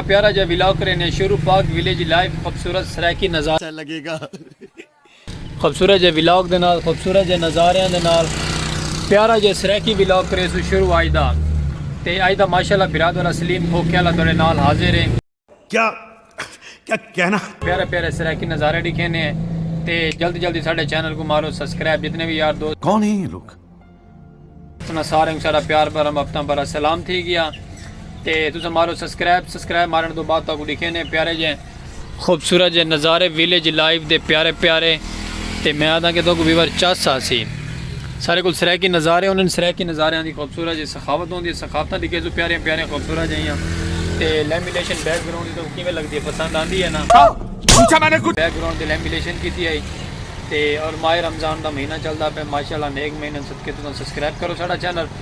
پیارا جا ویلاگ کرینے ہیں شروع پاک ویلیج لائف خوبصورت سرائیکی نظارے اچھا لگے گا خوبصورت جا ویلاگ دے نال خوبصورت جا نظارے دے نال پیارا جا سرائیکی ویلاگ کرے سو شروع آئی دا تے آئی دا ماشاءاللہ برادر اسلیم کھوکے اللہ توڑے نال حاضر ہیں کیا کہنا پیارے پیارے سرائیکی نظارے ڈکھے نے تے جلدی جلدی ساڈے چینل کو مارو سبسکرائب جتنے بھی یار دوست کون ہیں یہ لوگ تنا سارے کو سارا پیار بھرا محبتاں بھرا سلام تھی گیا تے تسا مارو سبسکرائب سبسکرائب مارن تو بعد تاکو ڈکھے نے پیارے جے خوبصورت جے نظارے ویلیج لائیو دے پیارے پیارے تے میں آدھا کہ تو کو ویور چاس سا سی سارے کول سرائیکی نظارے ہوندے ہن سرائیکی نظاریاں دی خوبصورت جئی سخاوت ہوندی ہے سخاوتاں دی گیزو پیاریاں پیاریاں خوبصورت جئیاں تے لیمینیشن بیک گراؤنڈ دی تہاکوں کیویں لگدی ہے پسند آندی ہے نا بیک گراؤنڈ تے لیمینیشن کیتی ہئی تے اور ماہ رمضان دا مہینہ چلدا پئے ماشاءاللہ نیک مہینے صدقے تساں سبسکرائب کرو ساڈا چینل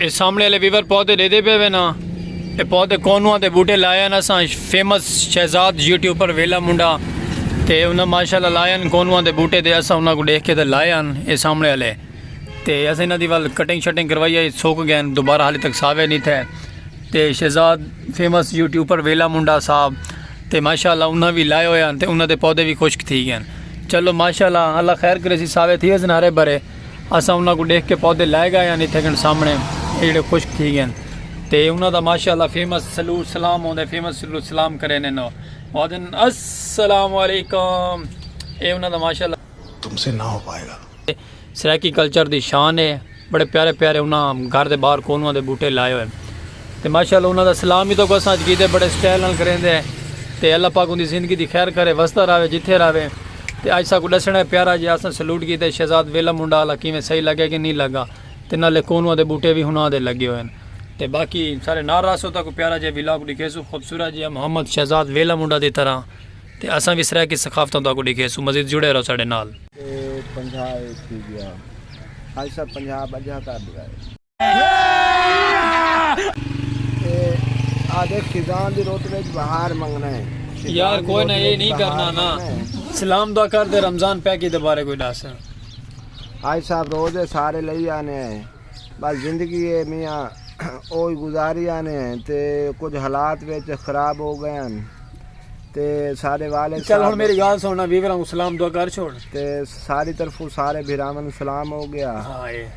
اے سامنے والے ویور پودے ڈیدے پے وے نا اے پودے کونواں دے بوٹے لائے نا ساں فیمس شہزاد یوٹیوبر ویلا منڈا تے انہاں ماشاءاللہ لائے ان کونواں دے بوٹے دے اساں انہاں کو دیکھ کے تے لائے ان اے سامنے والے تے اساں انہاں دی ول کٹنگ شٹنگ کروائی ہے سوک گئے دوبارہ حالی تک ساوے نہیں تھے تے شہزاد فیمس یوٹیوبر ویلا منڈا صاحب تے ماشاءاللہ انہاں بھی لائے ہوئے ہیں تے انہاں دے پودے بھی خشک تھی گئے چلو ماشاءاللہ اللہ خیر کرے سی ساوے تھی اس نارے برے اساں انہاں کوں ڈیکھ کے پودے لے گئے ہن اتھے کن سامنے اے جیڑھے خشک تھی گئے ہن تے انہاں دا ماشاءاللہ فیمس سلو سلام ہوندے فیمس سلو سلام کرے نے نو آدن السلام علیکم اے انہاں دا ماشاءاللہ تم سے نہ ہو پائے گا۔ سرائیکی کلچر دی شان اے بڑے پیارے پیارے انہاں گھر دے باہر کونواں دے بوٹے لائے ہوئے ہن۔ تے ماشاءاللہ انہاں دا سلام وی تہاکوں اساں اچ کیتے بڑے سٹائل نال کریندے ہیں تے اللہ پاک اوندی زندگی دی خیر کرے وسدا راہوے جتھے راہوے تے اج ساکوں ڈسنڑا ہے پیارا جے اساں سلوٹ کیتے شہزاد ویلا منڈا آلا کیویں صحیح لگے کہ نی لگا تے نالے کونواں دے بوٹے وی ہناں دے لگے ہوئن تے باقی سارے نال راہسو تہاکوں پیارا جے ولاگ ڈکھیسوں خوبصورت جیہا محمد شہزاد ویلا منڈا دی طرح تے اساں وی سرائیکی ثقافتاں تہاکوں ڈکھیسوں مزید جڑے رہو ساڈے نال۔ تے پنجھا اے تھی گیا خالصہ پنجاب اجہا کر ڈیوائے۔ آدھے خزان دی روت وچ بہار منگنا ہے یار کوئی نہ یہ نہیں کرنا نا سلام دعا کر دے رمضان پیکی دے بارے کوئی دس آج صاحب روزے سارے لئی آنے ہیں بس زندگی ہے میاں اوہی گزاری آنے ہیں تے کچھ حالات وچ خراب ہو گئے ہیں تے سارے والے چل ہن میری گال سننا ویوراں کو سلام دعا کر چھوڑ تے ساری طرفوں سارے بھراون سلام ہو گیا ہاں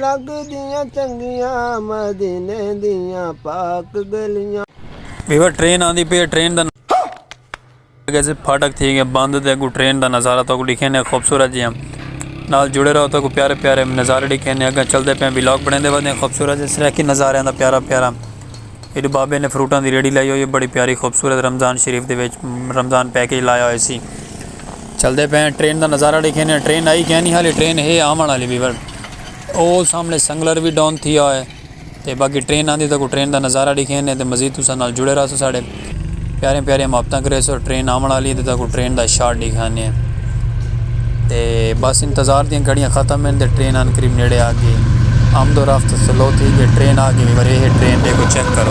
لڳدیاں چنڳیاں مدینے دیاں پاک ڳلیاں۔ ویور ٹرین آندی پئی ہے ٹرین دا نظارہ گیس پھاٹک تھی گیا بند تے اگوں ٹرین دا نظارہ تہاکوں ڈکھینے خوبصورت جیاں نال جڑے رہو تہاکوں پیارے پیارے نظارے ڈکھینے اگاں چلدے پیاں ولاگ بنڑیندے ودے ہیں خوبصورت جے سرائیکی نظاریاں دا پیارا پیارا۔ ایڈو بابے نے فروٹاں دی ریڑھی لائی ہوئی ہے بڑی پیاری خوبصورت رمضان شریف دے وچ رمضان پیکج لایا ہوئے سی چلدے پے ٹرین دا نظارہ ڈیکھینے ٹرین آئی کینی حالی ٹرین ہے آون والی بھی پر او سامنے سنگلر بھی ڈاؤن تھیا ہوئے تے باقی ٹرین آندی تاکو ٹرین دا نظارہ ڈیکھینے تے مزید تساں نال جڑے رہسو ساڈے۔ پیاریاں پیاریاں محبتاں کریسو ٹرین آون والی ہے تے تہاکوں ٹرین دا شاٹ ڈیکھانے ہیں تے بس انتظار دیاں گھڑیاں ختم ہیں تے ٹرین آن قریب نیڑے آ گئی آمد و رفت سلو تھی گئی ٹرین آ گئی پر یہ ٹرین دے کو چیک کرو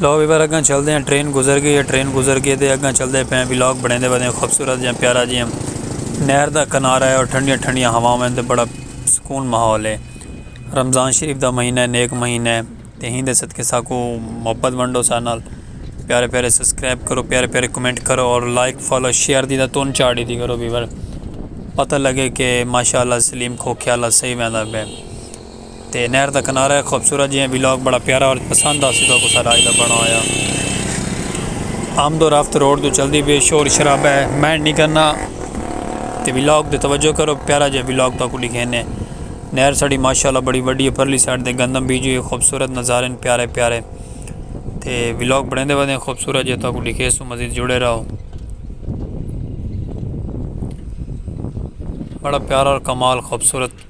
لو ویور اگاں چلدے ہیں ٹرین گزر گئی ہے ٹرین گزر گئی تے اگاں چلدے پئے ہیں ولاگ بنیندے ودے ہیں خوبصورت جہاں پیارا جی ہم نہر دا کنارہ ہے اور ٹھنڈیاں ٹھنڈیاں ہواواں تے بڑا سکون ماحول ہے رمضان شریف دا مہینہ ہے نیک مہینہ ہے تے ہی دے صدقے ساکو محبت ونڈو سارے نال پیارے پیارے سبسکرائب کرو پیارے پیارے کمنٹ کرو اور لائک فالو شیئر دی دا تون چاڑی دی کرو ویور پتہ لگے کہ ماشاءاللہ سلیم کھوکھے اللہ صحیح ویندہ پہ تے نہر دا کنارہ ہے خوبصورت جی ہیں ویلاگ بڑا پیارا اور پسند آسی تو کو ساڈا آج دا بنا ہویا آمد و رفت روڈ تو چلدی پی شور شرابہ ہے مینڈ نہیں کرنا تے ویلاگ تے توجہ کرو پیارا جی ویلاگ تو کو لکھینے نہر ساڈی ماشاءاللہ بڑی وڈی ہے پرلی سائیڈ تے گندم بیجی ہوئی خوبصورت نظارے ہیں پیارے پیارے تے ویلاگ بڑھیں دے ودیں خوبصورت جی تو کو لکھے سو مزید جڑے رہو بڑا پیارا اور کمال خوبصورت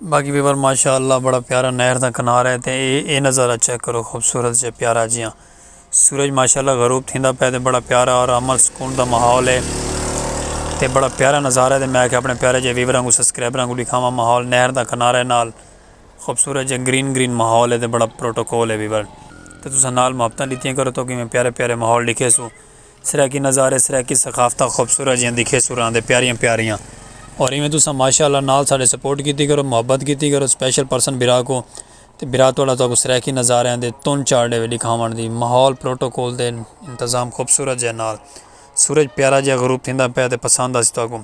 باقی ویور ماشاء اللہ بڑا پیارا نہر دا کنارہ ہے تے اے اے نظارہ چیک کرو خوبصورت جے پیارا جیاں سورج ماشاء اللہ غروب تھیندا پے تے بڑا پیارا اور عمل سکون دا ماحول ہے تے بڑا پیارا نظارہ ہے تے میں کہ اپنے پیارے جے ویوراں کو سبسکرائبراں کو دکھاواں ماحول نہر دا کنارہ نال خوبصورت جے گرین گرین ماحول ہے تے بڑا پروٹوکول ہے ویور تے تساں نال محبتاں ڈتیاں کرو تو کہ میں پیارے پیارے ماحول ڈکھے سو سرائیکی نظارے سرائیکی ثقافتاں خوبصورت جیاں دکھے سراں دے پیاریاں پیاریاں اور ایویں تساں ماشاء اللہ نال ساڈے سپورٹ کیتی کرو محبت کیتی کرو سپیشل پرسن برا کو تے برا تہاڈا تہاکوں سرائیکی نظاریاں دے تن چار ڈیوے دکھاون دی ماحول پروٹوکول دے انتظام خوبصورت جے نال سورج پیارا جیہا غروب تھیندا پیا تے پسند آسی تہاکوں۔